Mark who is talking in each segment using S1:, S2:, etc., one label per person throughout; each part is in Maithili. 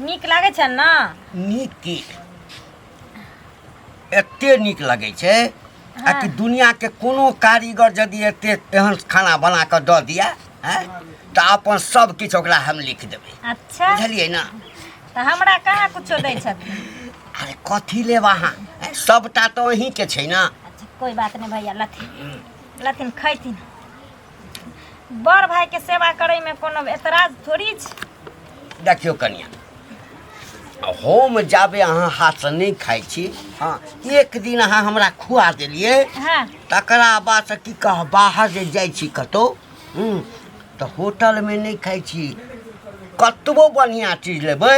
S1: नीक लागै छै ने नीक की
S2: एते नीक लगै छै आ कि दुनियाके कोनो कारीगर यदि एते एहन खाना बना कऽ दऽ दिए आँय, तऽ अपन सब किछु ओकरा हम लिख देबै अच्छा बुझलियै ने तऽ हमरा
S1: कहाँ कुछो दै छथिन अरे कथी
S2: लेब अहाँ आँय, सबटा तऽ अहीँके छै ने अच्छा कोई बात नहीं
S1: भैया लथी लेकिन खैथिन बड़ भायके सेवा करैमे कोनो एतराज थोड़ी छै देखियौ कनिया
S2: हम जाबे अहाँ हाथसँ नहि खाइ छी हँ एक दिन अहाँ हमरा खुआ देलियै हँ तकरा
S1: बादसँ
S2: की कह बाहर जे जाइ छी कतहु हूँ, तऽ होटलमे नहि खाइ छी कतबो बढ़िआँ चीज लेबै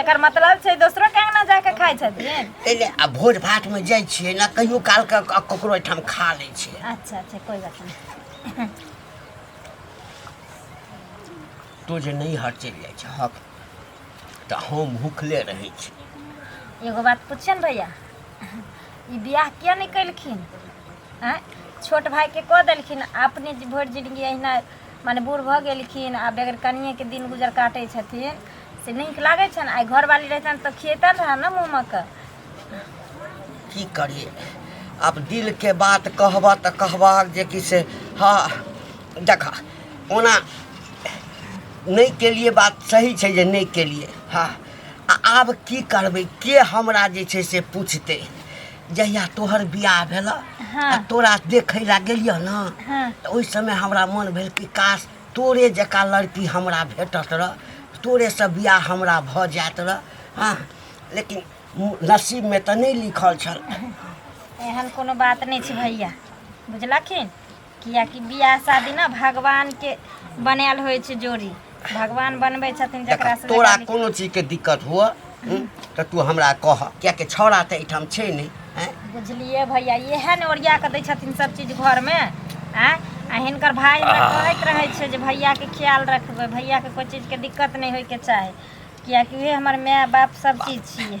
S1: एकर मतलब छै दोसरो के अंगना जाके खाइ छथिन तैले आ भोज
S2: भात में जाइ छियै ना कहियो काल के क- ककरो ओहिठाम खा लै छियै अच्छा अच्छा कोई बात नहीं तो जे नहीं हट चलि जाइ छै हक तऽ हम भूखले रहै छी एगो बात
S1: पूछिए ने भैया ई बियाह किया नहीं कैलखिन आँय छोट भाई के कह देलखिन अपने भर जिंदगी अहिना माने बूढ़ भऽ गेलखिन आ बेगर कनिएके दिन गुजर काटै छथिन से नीक लागै छनि आइ घरवाली रहितनि तऽ खियतनि रहए ने मोमक
S2: की करिए आब दिलके बात कहबह तऽ कहबहक जे कि से हँ देखा ओना नहि केलिए बात सही छै जे नहि केलिए हँ आ आब की करबै के हमरा जे छै से पूछतै जहिया तोहर बियाह भेल हाँ। आ तोरा
S1: देखै ला
S2: गेलियै न हाँ। तऽ ओहि समय
S1: हमरा
S2: मन भेल कि काश तोरे जकाँ लड़की हमरा भेटत रह तोरेसँ बियाह हमरा भऽ जायत रह हाँ लेकिन नसीबमे तऽ नहि लिखल छल एहन
S1: कोनो बात नहि छै भैया बुझलखिन कियाकि बियाह शादी ने भगवान के बनायल होइ छै जोड़ी भगवान बनबै छथिन देख जकरा से तोरा लड़का कोनो चीज के
S2: दिक्कत हुअ हूँ, तऽ तू हमरा कह कियाकि छौड़ा तऽ एहिठाम छै नहि हैं? निकल- बुझलियै
S1: भैया इएह ने ओरिया कऽ दै छथिन सब चीज घर में आँय आ हिनकर भाई हमरा कहैत रहै छै जे भैया के ख्याल रखबै भैया के कोई चीज के दिक्कत नहि होय के चाही कियाकि उहे हमर माय बाप सब चीज छियै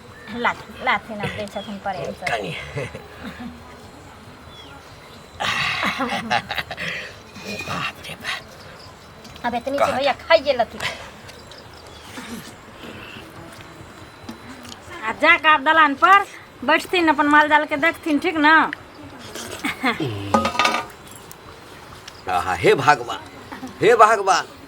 S1: लाथे न दै छथिन प्रेम
S2: सँ कनि बाप रे बाप अब इतनी से भैया
S1: खाइए लथी आ जा कऽ आब दलान पर बैठथिन अपन माल जाल के देखथिन ठीक न आहा
S2: हे भगवान हे भगवान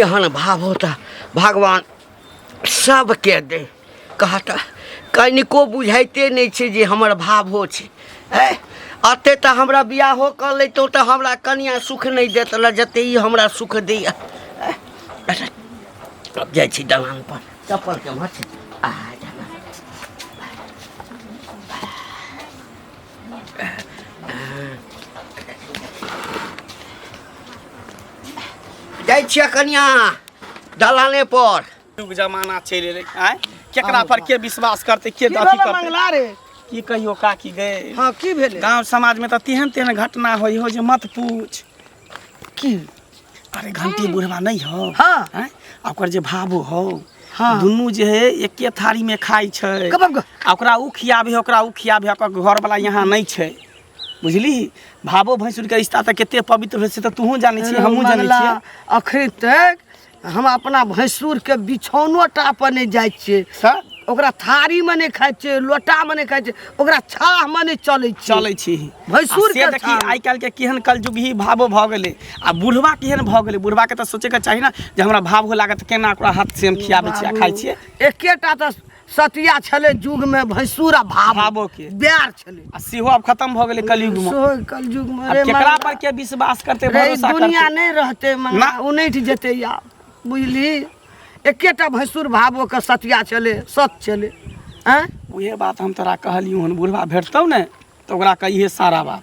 S2: एहन भाव होता भगवान सबके दे कहता कनिको बुझाइते नहि छै जे हमर भावो छै ए अते तऽ हमरा बियाहो कऽ लैतहुँ तऽ हमरा कनिया सुख नहि देत लए जते ई हमरा सुख दैया ए, अच्छा, अब जाइ छी दलान पर चप्पल के मछ आ जाइ छियै कनिया दलाने पर युग जमाना
S3: चलि एलै आय केकरा पर के विश्वास करतै के अथी करतै मंगला रे की कहियो
S4: काकी
S3: गए हाँ की भेलै गांव
S4: समाज में तो तेहन
S3: तेहन घटना होई हो जे मत पूछ की
S4: अरे
S3: घंटी बुढ़वा नहीं हो हाँ हैं? आ
S4: ओकर जे
S3: भाबो हो हाँ। दुनू
S4: जे है
S3: एके थारी में खाई छै कब अब आ ओकरा उ
S4: खियाबे
S3: ओकरा उ खियाबे ओकर घर वाला यहाँ नहीं छै बुझली भाबो भैंसुर के रिश्ता तऽ कते पवित्र होइ छै तऽ तूहू जानै छी हमहूँ जानै मंगला छियै अखन तक
S4: हम अपना भैंसुरके बिछौनो टा पर नहि जाइ छियै तऽ ओकरा थारीमे नहि खाइ छियै लोटामे नहि खाइ छियै ओकरा छाहमे नहि चलै छियै चलै छी भैंसुर
S3: आ से के देखी
S4: छाल। आइ काल्हि के केहन
S3: कलयुग ही भावो भऽ गेलै आ बुढ़वा केहन भऽ गेलै बुढ़वा के तऽ सोचे के चाही ने जे हमरा भाव हो लागत केना ओकरा हाथ से हम खियाबै छियै आ खाइ छियै एकेटा तऽ
S4: सतिया छलै युगमे भैंसुर आ भावो भावो के। बैर छलै
S3: आ सेहो
S4: आब खत्म भऽ
S3: गेलै कलयुगमे सेहो कलयुगमे आब रे केकरा मंगला।
S4: पर के
S3: विश्वास करते रे भरोसा दुनिया करते नहि रहतै ना।
S4: मंगला उनैठ जेतै आब बुझली एकेटा भैंसुर भावो के सतिया छलै सत छलै आँय उहे बात हम
S3: तोरा कहलियौ हन बुढ़वा भेटतौ ने तऽ ओकरा कहिए सारा बात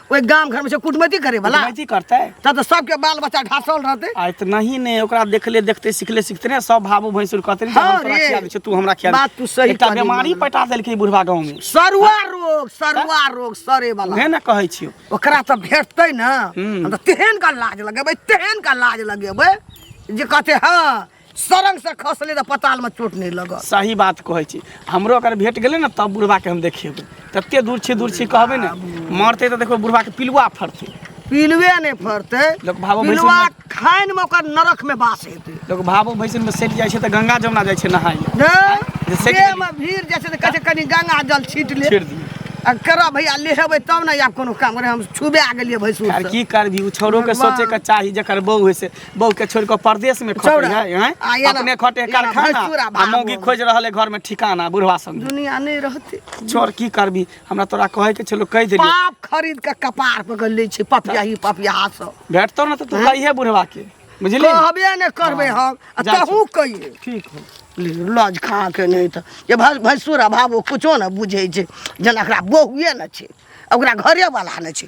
S4: ओहि गाम घरमे छै कुटमैती करे वाला कुटमैती करतै तब तऽ
S3: सबके बाल
S4: बच्चा ढासल रहतै आ इतना ही ने
S3: ओकरा देखले देखते सिखले सिखते ने सब भाबू भैंसुर कहते ने जे हाँ हम तोरा रे। खिया दै छियौ, तू हमरा खिया दे। बात तू सही एकटा कहली बीमारी
S4: मामा। पटा
S3: देलकै बुढ़वा गाँव में सरुआ रोग सरुआ
S4: रोग सरे वाला उहे ने कहै छियौ
S3: ओकरा तऽ भेटतै
S4: ने हम्म। हम तऽ तेहन का लाज लगेबै तेहन का लाज लगेबै जे कहते हँ सरंग से खसले तऽ पताल में चोट नहीं लगल सही बात कहै छी
S3: हमरो अगर भेट गेलै ने तब बुढ़बाके हम देखेबै तते दूर छी दूर छी कहबै ने मरतै तऽ देखबै बुढ़बाके पिलुआ फड़तै पिलुए नहि
S4: फड़तै लोक भावो भैंसुर पिलुआ
S3: में- खानि
S4: में ओकर नरक में बास हेतै लोक भावो भैसन में
S3: सटि जाइ छै तऽ गंगा जमुना जाइ छै नहाय लए जे सटि देह
S4: गेलै। में भीड़ जाइ छै तऽ कहै छै कनि गंगा जल छीट ले छीट दियै। आ करऽ
S3: भैया
S4: लेहेबै तब ने आब कोनो काम करे हम छुबे गेलियै भैंसुर आर से की करबी ओ
S3: छोरोके भगवान। सोचेके चाही जकर बहू होइ से बहू के छोड़ के परदेश में खटे चौड़ा, है हैं? आ, ये ना, अपने खटे ये ना, कारखाना भैंसुरा आ भागो। मौगी खोज रहल है घर में ठिकाना बुढ़वा संग दुनिया नहीं रहती
S4: चोर की करबी
S3: हमरा तोरा कहे के छलो कह देली पाप खरीद के
S4: कपार पर कर लै छै पपिया ही पपिया सब भेटतो ना तो तू कहिए
S3: बुढ़वा के बुझली कहबे ने करबै
S4: हम आ जा तहूँ कहिए ठीक हो ले,
S3: लज खा
S4: के नहीं तऽ जे भै- भैंसुर अभाव ओ किछो ने बुझै छै जेना एकरा बहुए ने छै ओकरा घरेवला ने छै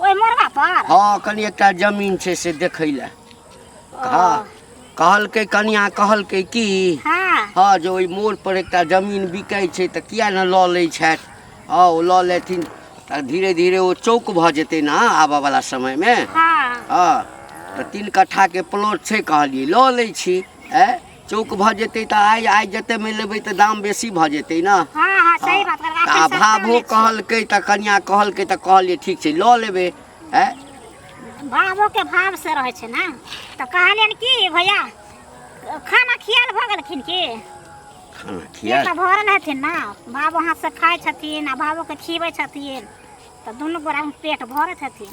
S2: ओहि
S1: मोरबा पर हाँ कनी एकटा
S2: जमीन छै से देखै लए हाँ कहलकै कनिया कहलकै कि हाँ हाँ जे ओहि मोड़ पर एकटा जमीन बिकै छै तऽ किया ने लऽ लै छथि हाँ ओ लऽ लेथिन तऽ धीरे धीरे ओ चौक भऽ जेतै ने आबऽवला समयमे हाँ हाँ तऽ तीन कट्ठाके प्लॉट छै कहलियै लऽ लै छी आँय चौक भऽ जेतै तऽ आइ आइ जते मे लेबै तऽ दाम बेसी भऽ जेतै ने हाँ हाँ सही बात कर
S1: तऽ अभावो कहलकै
S2: तऽ कनिया कहलकै तऽ कहलियै ठीक छै लऽ लेबै ए
S1: भावो के भाव से रहे छै ना तो कहलियन की भैया खाना खियाल भऽ गेलखिन की खाना पेट
S2: खिया तऽ भरल हथिन ना
S1: बाबू हाथ से खाइ छथिन आ बाबू के खिबै छथिन तऽ दुनू गोरा में पेट भरत हथिन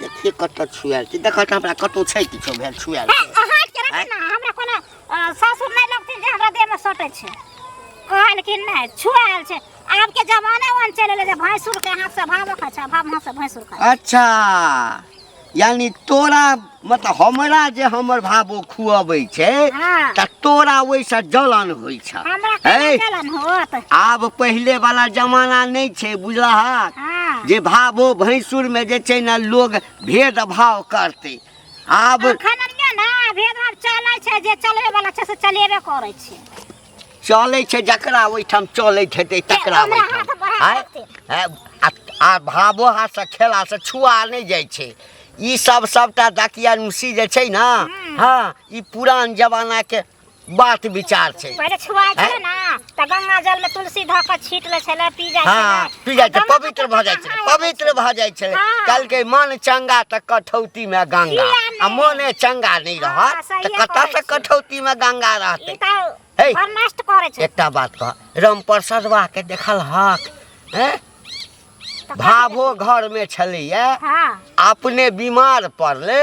S1: देखिए कत
S2: छुआल छी देख त हमरा कतौ छै किछो भेल छुआल छै अहाँ के रखी
S1: ना हमरा कोनो अ, सासुर नहीं लगती जे हमरा देह में सटे छे कहल कि नहीं छुआल छे आब के जमाने वन चले ले जे भैंसुर के हाथ से भाव खा छे भाव हाथ से भैंसुर खा अच्छा यानी
S2: तोरा मतलब हमरा जे हमर भाबो खुअबै छै हाँ। तऽ तोरा
S5: ओहिसँ
S2: जलन होइ छ हमरा है केना जलन
S5: होत आब पहिले
S2: वाला जमाना नहि छै बुझलहक हाँ। जे भाबो भैंसुरमे जे छै ने लोग भेदभाव करतै आब अखन ने भेदभाव
S5: चलै छै जे चलबै वाला छै से चलेबे करै छै चलै
S2: छै जकरा ओहिठाम चलैत हेतै तकरा हमरा ओहिठाम हाथ बढ़ा
S5: आँय?
S2: देतै।
S5: आँय? आ-
S2: आ भावो हाथसँ खेलासँ छुआ नहि जाइ छै ई सब सबटा दकिया नुसी जे छै ने हँ ई पुरान जमानाके बात विचार छै पहिले छुआइ छलै ने
S5: तऽ
S2: गंगा
S5: जल में तुलसी धऽ कऽ छीट लै छलै पी जाइ हँ। छलै पी जाइ छै
S2: पवित्र
S5: भऽ
S2: जाइ छै
S5: पवित्र
S2: भऽ जाइ
S5: छै
S2: कहलकै मन
S5: चंगा
S2: तऽ कठौती मे गंगा आ मोने चंगा
S5: नहि
S2: रहत तऽ कतऽ
S5: से कठौती
S2: मे गंगा रहतै
S5: हे एकटा बात कह राम
S2: प्रसाद बा के देखल हक हैं भाभो घर में छलैया
S5: अपने
S2: बीमार पड़ले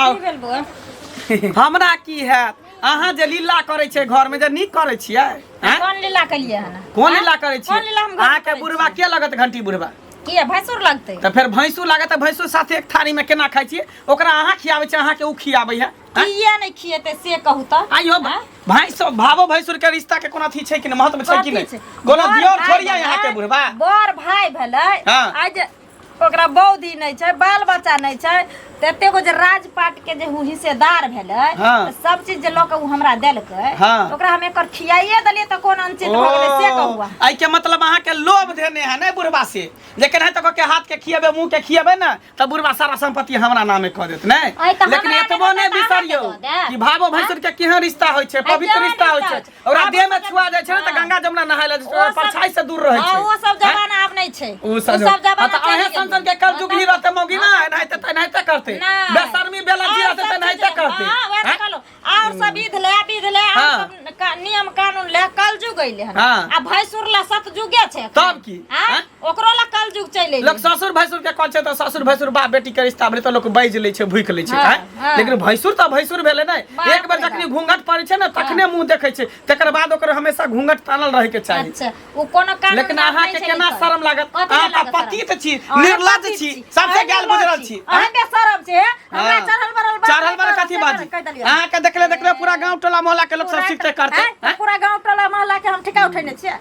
S3: आउ
S1: हमरा
S3: की हैत अहाँ जे लीला करै छै घर में जे नीक करै छियै आँय? कोन लीला केलिए
S1: हन कोन लीला करै छी कोन
S3: लीला हम घर में अहाँके करै
S1: बुढ़वा के लगत
S3: घंटी
S1: बुढ़वा
S3: किए भैंसुर
S1: लगतै तऽ फेर भैंसू लागत तऽ
S3: भैंसू साथे एक थारी में केना खाइ छियै ओकरा अहाँ खियाबै छियै अहाँके ओ खियाबै है आँय? किए नहि खिएतै से
S1: कहू तऽ आइयो आँय? भैंस भावो
S3: भैंसुर के रिश्ता के कोनो अथी छै कि नहि महत्व छै कि कथी नहि छै? कोनो बड़ दियोर भाय थोड़िया
S1: भेलै,
S3: यहाँ के
S1: बुढ़वा
S3: बड़ भाय
S1: भेलै हाँ। आइ जे ओकरा बौद्धि नहीं छै बाल बच्चा नहीं छै तऽ एते गो जे राजपाट के जे उ हिस्सेदार भेलै हाँ। तऽ सब चीज जे
S3: लऽ के उ
S1: हमरा देलकै हाँ। तऽ ओकरा हम एकर
S3: खियाइए
S1: देलियै तऽ कोन अनचित भऽ गेलै से कहू अहाँ। आई के मतलब अहाँ
S3: के लोभ देने है ना बुढ़वा से जे केना तक के हाथ के खियेबे मुंह के खियेबे ना त बुढ़वा सारा संपत्ति हमरा नामे क देत ने आई तऽ लेकिन हमरा एतबो नामे
S1: ने तऽ अहाँ के
S3: बिसरियो दऽ
S1: देब। कि
S3: भावो
S1: भैंसुर के
S3: केहन रिश्ता होय छै पवित्र जवान रिश्ता होय रिश्ता छै होय छै। ओकरा
S1: आब
S3: देह में ओकर- छुआ जाइ
S1: छै ने तऽ
S3: हाँ। गंगा
S1: जमुना
S3: नहाय लए जाइ छै, ओ सब- परछाई से दूर
S1: रहै हाँ, छै वो
S3: सब हाँ? जमाना अब नहीं
S1: छे उ सब हाँ, जमाना तऽ
S3: अहे सन
S1: सन के
S3: कल जुग ही
S1: रहते
S3: मौगी ना एनाहिते तऽ एनाहिते करते नहीं। बेशर्मी बेला
S1: और गिरा सब
S3: तऽ एनाहिते चीज- करते हाँ, वैसे हाँ? कहलो।
S1: और सब
S3: विध
S1: ले विध ले और हाँ। सब का-
S3: नियम
S1: कानून ले कल जुग अइले हन हाँ। आ भैंसुर ला सतजुगे छे तब की? हाँ? हाँ?
S3: ओकरो ला
S1: कल
S3: जुग
S1: चलि लोक अइलै ससुर भैंसुर के
S3: कहै छै
S1: तऽ
S3: ससुर भैंसुर बाप बेटी के रिश्ता भेलै तऽ लोक बाजि लै छै भूकि लै छै हाँ, आँय? हाँ। लेकिन भैंसुर तऽ
S1: भैंसुर
S3: भेलै ने बाप एक बेर रे जखनी बाप।
S1: घूंघट
S3: पड़ै
S1: छै
S3: ने तखने मुंह देखै छै तकर बाद ओकर हमेशा घूंघट तानल रहै के चाही अच्छा ओ कोनो कानून
S1: लेकिन बात अहाँ नहि के छै केना लिखल।
S3: शर्म
S1: लागत कथी अहाँ
S3: लागत तऽ पति शर्म? तऽ
S1: छी
S3: अहाँ निर्लज
S1: पति छी सबसे
S3: अहाँ गैल
S1: निर्लज गुजरल
S3: छी
S1: अहाँ
S3: बेशरम छी हे?
S1: हमरा हाँ। चढ़ल बढ़ल
S3: बात चढ़ल
S1: बड़ कथी बाजी कहि
S3: देलियै।
S1: अहाँ
S3: के
S1: देखले देखले पूरा
S3: गांव टोला मोहल्ला के लोक सब पूरा- सिखते करते हाँ, हैं? पूरा गांव टोला
S1: मोहल्ला
S3: के
S1: हम ठिका उठेने छियै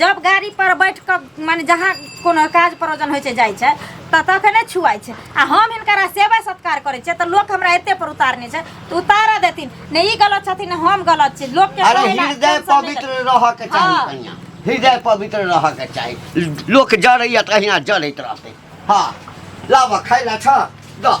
S1: जब गाड़ी पर बैठ के माने जहाँ कोनो काज प्रयोजन होइ छै जाइ छै तऽ तखने छुआइ छै आ हम हिनकरा सेवा सत्कार करै छियै तऽ लोक हमरा एते पर उतारने छै तऽ उतारऽ देथिन ने ई गलत छथिन ने हम गलत छी लोक के अरे कहै ला हृदय टेंशन नहि पवित्र
S2: लेथिन।
S1: रह के चाही हाँ। कन्या
S2: हृदय पवित्र रह के चाही लोक जड़ैया तऽ अहिना जड़ैत रहतै हँ लाबऽ खाइ लए छऽ दऽ